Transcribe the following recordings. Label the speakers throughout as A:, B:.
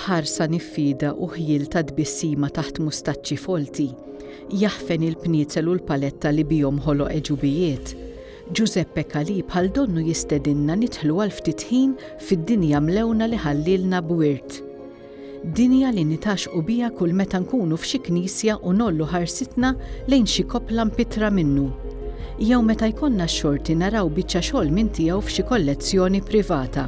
A: B'ħarsa niffida u ħjiel ta' tbissima taħt mustaċċi folti, jaħfen il-pniezel u l-paletta li bihom ħoloq għeġubijiet, Ġużeppe Calì bħal donnu jistedinna nidħlu għal ftit ħin fid-dinja mlewna li ħallielna b'wirt. Dinja li nitgħaxxqu biha kull meta nkunu f'xi knisja u ngħollu ħarsitna lejn xi koppla mpittra minnu. Jew meta jkollna x-xorti naraw biċċa xogħol minn tiegħu f'xi kollezzjoni privata.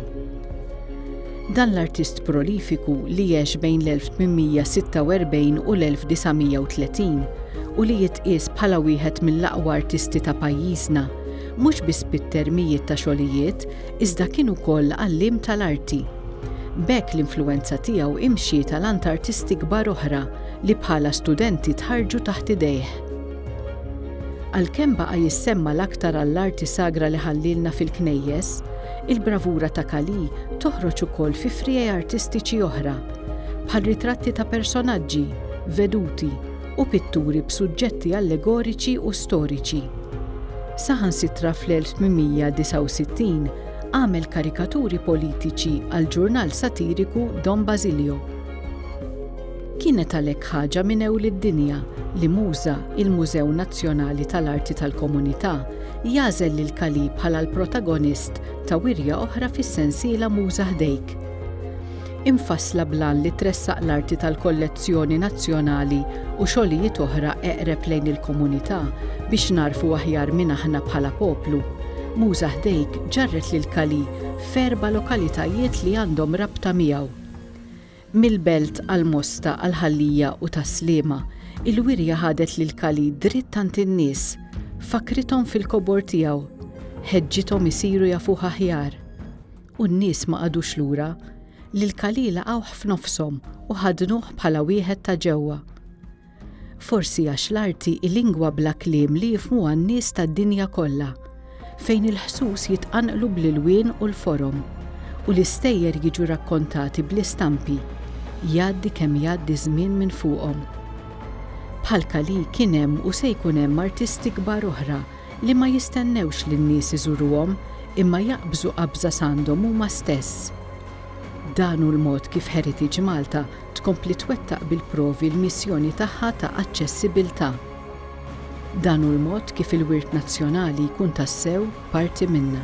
A: Dan l-artist prolifiku li għex bejn l-1846 u l-1930 u li jitqies bħala wieħed mill-aqwa artisti ta' pajjiżna, mhux biss pitter mijiet ta' xogħlijiet, iżda kien ukoll għalliem tal-arti. B'hekk l-influwenza tiegħu imxiet għal għand artisti kbar oħra li bħala studenti tħarrġu taħt idejh. Għalkemm baqa' jissemma l-aktar għall-arti sagra li ħallielna fil-knejjes, il-bravura ta' Kali toħroġ ukoll fi friegħi artistiċi oħra, bħal ritratti ta' personaġġi, veduti, u pitturi b'suġġetti allegoriċi u storiċi. Saħansitra fl-1869 għamel karikaturi politiċi għall-ġurnal satiriku Don Basilio. Kienet għalhekk ħaġa minn ewli d-dinja li Muża, il-Mużew Nazzjonali tal-Arti tal-Komunità, jagħżel lil Kalì bħala l-protagonist ta' wirja oħra fis-sensiela Muża Ħdejk. imfassla bl-għan li tressaq l-arti tal-kollezzjoni nazzjonali u xogħlijiet oħra eqreb lejn il-komunità biex nagħrfu aħjar min aħna bħala poplu. Muża Ħdejk ġarret lil Cali f'erba' lokalitajiet li għandhom rabta miegħu. Mill-Belt għal Mosta għal Ħal-Lija u tas-Sliema, il-wirja ħadet lil Cali dritt għand in-nies, fakkrithom fil-kobor tiegħu, ħeġġithom isiru jafuh aħjar. u n-nies ma qagħdux lura, li l-Kali laqgħuh f'nofshom u ħadnuh bħala wieħed ta' ġewwa. Forsi għax l-arti hi lingwa bla kliem li jifhmuha n-nies tad-dinja kollha, fejn il-ħsus jitqanqlu bl-ilwien u l-forom, u l-istejjer jiġu rakkontati bl-istampi, jgħaddi kemm jgħaddi ż-żmien minn fuqhom. Bħall-Kali kien hemm u se jkun hemm artisti kbar oħra li ma jistennewx li n-nies iżuruhom imma jaqbżu qabża s'għandhom huma stess. Dan hu l-mod kif Heritage Malta tkompli twettaq bil-provi l-missjoni tagħha ta' aċċessibiltà. Dan hu l-mod kif il-wirt nazzjonali jkun tassew parti minna.